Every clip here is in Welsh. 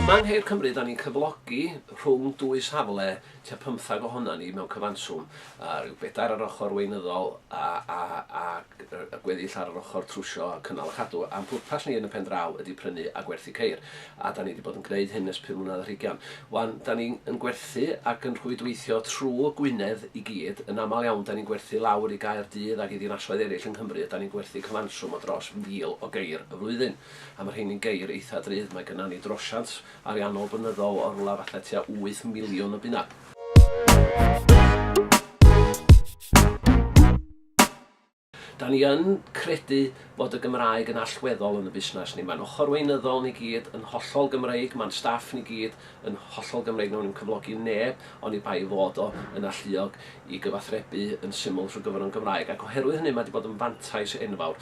Yma yng Nghaer Cymru, da ni'n cyflogi rhwng dwy safle, tua pymthag ohonan ni mewn cyfanswm, a rhyw bedair ar ochr weinyddol a a a y gweddill ar yr ochr trwsio a cynnal a chadw, a'n pwrpas ni yn y pen draw ydi prynu a gwerthu ceir. a 'da ni 'di bod yn gwneud hyn ers pum mlynedd ar hugain, 'wan 'da ni yn gwerthu ac yn rhwydweithio trwy Gwynedd i gyd, yn aml iawn 'da ni'n gwerthu lawr i Gaerdydd ac i ddinasoedd eraill yng Nghymru, ydan ni'n gwerthu cyfanswm o dros 1,000 o geir y flwyddyn, a ma' rheini'n geir eitha' drud, mae gynna ni drosiant ariannol blynyddol o rywle fatha tua wyth miliwn o bunna. Da ni yn credu fod y Gymraeg yn allweddol yn y busnes ni. Mae'n ochr weinyddol ni gyd yn hollol Gymreig, mae'n staff ni gyd yn hollol Gymreig, wnawn ni'm cyflogi neb oni bai ei fod o yn alluog i gyfathrebu yn syml trwy gyfrwng Gymraeg, ac oherwydd hynny mae 'di bod yn fantais enfawr.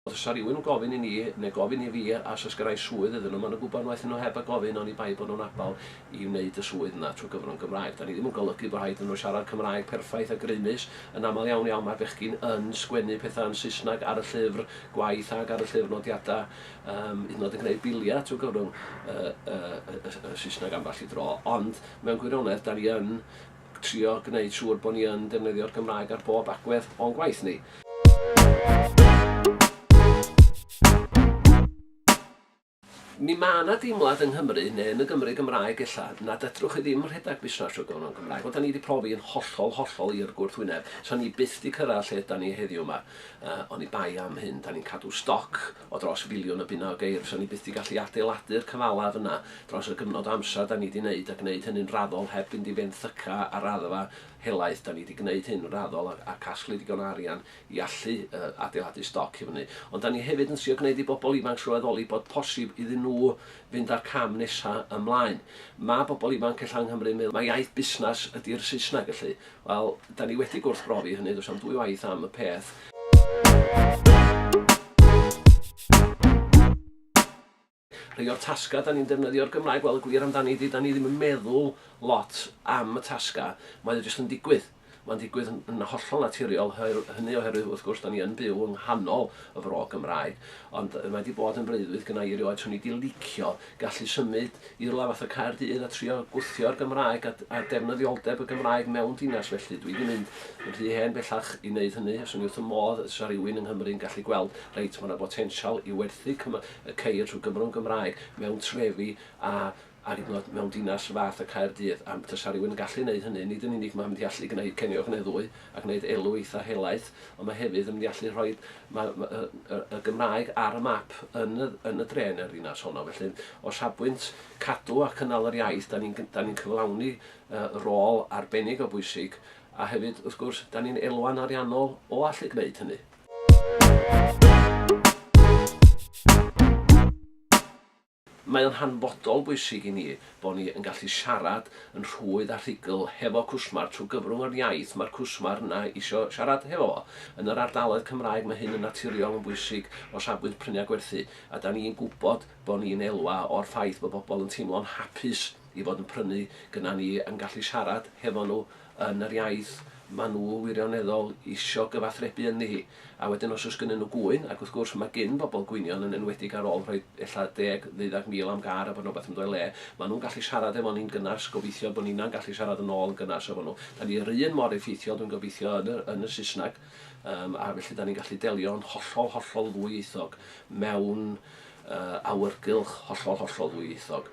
Os sa rhywun yn gofyn i ni, neu gofyn i fi, a os gyrrai swydd iddyn nhw, maen nhw'n gwybod waeth i nhw heb a gofyn oni bai bod nhw'n abal i wneud y swydd yna trwy gyfrwng Gymraeg. Da ni ddim yn golygu bod rhaid iddyn nhw siarad Cymraeg perffaith a grymus. Yn aml iawn iawn mae bechgyn yn sgwennu pethau yn Saesneg ar y llyfr gwaith ac ar y llyfr nodiadau, yym, hyd yn oed yn gwneud biliau trwy gyfrwng y, y, y, y Saesneg ambell i dro. Ond, mewn gwirionedd, da ni yn Trio gwneud siŵr bod ni yn defnyddio'r Gymraeg ar bob agwedd o'n gwaith ni. Mi ma' 'na deimlad yng Nghymru, neu yn y Gymru Gymraeg ella, nad fedrwch chi ddim rhedeg busnas trwy gyfrwng y Gymraeg. Wel, 'dan ni 'di profi yn hollol, hollol i'r gwrthwyneb. 'San ni byth 'di cyrraedd lle 'dan ni heddiw 'ma, oni bai am hyn. 'Dan ni'n cadw stoc. o dros filiwn o bunnoedd geir, fysan ni byth 'di gallu adeiladu'r cyfalaf yna dros y gyfnod o amser 'dan ni 'di 'neud a gneud hynny'n raddol heb fynd i fenthyca ar raddfa helaeth, 'dan ni 'di gneud hyn yn raddol a a casglu digon o arian i allu yy adeiladu stoc i fyny. Ond 'dan ni hefyd yn trio gneud i bobl ifanc sylweddoli bod posib iddyn nhw fynd â'r cam nesa' ymlaen. Ma' bobl ifanc ella yng Nghymru'n meddwl mai iaith busnas ydi'r Saesneg, felly, Wel, da ni wedi gwrthbrofi hynny, does am dwy waith am y peth. Rhai o'r tasgau da ni'n defnyddio'r Gymraeg, wel y gwir amdani ydy, da ni ddim yn meddwl lot am y tasgau, mae o jyst yn digwydd. Mae'n digwydd yn, yn hollol naturiol, hynny oherwydd wrth gwrs da ni yn byw yng nghanol y fro Gymraeg, ond mae wedi bod yn freuddwyd gynnau i rioed, swn i wedi licio gallu symud i rywle fatha Caerdydd a trio gwthio'r Gymraeg a a defnyddioldeb y Gymraeg mewn dinas felly dwi 'di mynd yn rhy hen bellach i neud hynny a swn i wrth fy modd os 'sa rywun yng Nghymru yn gallu gweld reit ma' 'na botensial i werthu cyma- y ceir trwy Gymro yn Gymraeg mewn trefi a a hyd yn o'd mewn dinas fath a Caerdydd a tasa rywun yn gallu neud hynny nid yn unig ma' mynd i allu gneud Ceiniog Nedd Ddwy a gneud elw eitha helaeth ond ma' hefyd yn mynd i allu rhoid Mae y Gymraeg ar y map yn y dre yn y ddinas honno. Felly, o safbwynt cadw a cynnal yr iaith, da ni'n cyflawni rôl arbennig o bwysig, a hefyd, wrth gwrs, da ni'n elwa'n ariannol o allu gwneud hynny. Mae o'n hanfodol bwysig i ni bo' ni yn gallu siarad yn rhwydd a rhugl hefo cwsmer trwy gyfrwng yr iaith mae'r cwsmer yna isio siarad hefo fo. Yn yr ardaloedd Cymraeg mae hyn yn naturiol yn bwysig o safbwynt prynu a gwerthu a 'dan ni'n gwbod bo' ni'n elwa o'r ffaith bo' bobol yn teimlo'n hapus i fod yn prynu gynna ni yn gallu siarad hefo nhw yn yr iaith ma nhw wirioneddol isio gyfathrebu ynddi hi. A wedyn os oes gynnyn nhw gŵyn, ac wrth gwrs ma gyn bobl gwynion yn enwedig ar ôl rhoi ella deg, ddeuddag mil am gar a bod rhywbeth yn dod o'i le, ma nhw'n gallu siarad efo ni'n gynnas, gobeithio bod ninna'n gallu siarad yn ôl yn gynnas efo nhw. Da ni yr un mor effeithiol dwi'n gobeithio yn y yn y Saesneg yym a felly da ni'n gallu delio yn hollol, hollol ddwyieithog mewn yy awyrgylch hollol, hollol ddwyieithog.